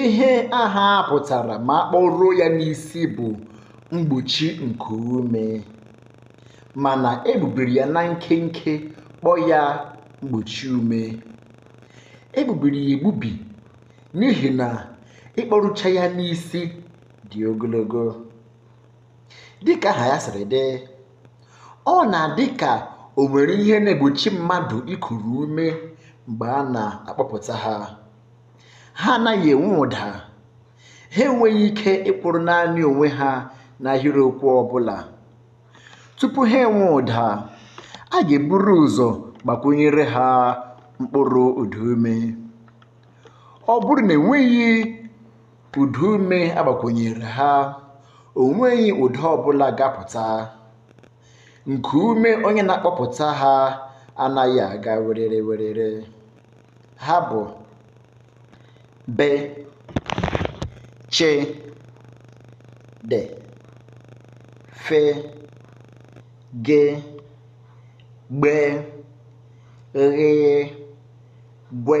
ihe aha a pụtara ma a kpọruo ya n'isi bụ mgbochi nke ume mana e bubiri ya na nkenke kpọọ ya mgbochi ume e bubiri ya egbubi n'ihi na ịkpọrucha ya n'isi dị ogologo dịka aha ya siri dị ọ na-adị ka o nwere ihe na-egbochi mmadụ ikuru ume mgbe a na-akpọpụta ha ha anaghị enwe ụda ha enweghị ike ịkwụrụ naanị onwe ha n'ahịrịokwu ọbụla tupu ha enwe ụda a ga-eburu ụzọ gbakwunyere ha mkpụrụ ụdaume ọ bụrụ na e nweghị Ụda ume a gbakwunyere ha, o nweghị ụda ọbụla ga-apụta. Nku ume onye na-akpọpụta ha anaghị aga werere werere. Ha bụ be, che, de, fe, ge, gbe, ghị, gwe.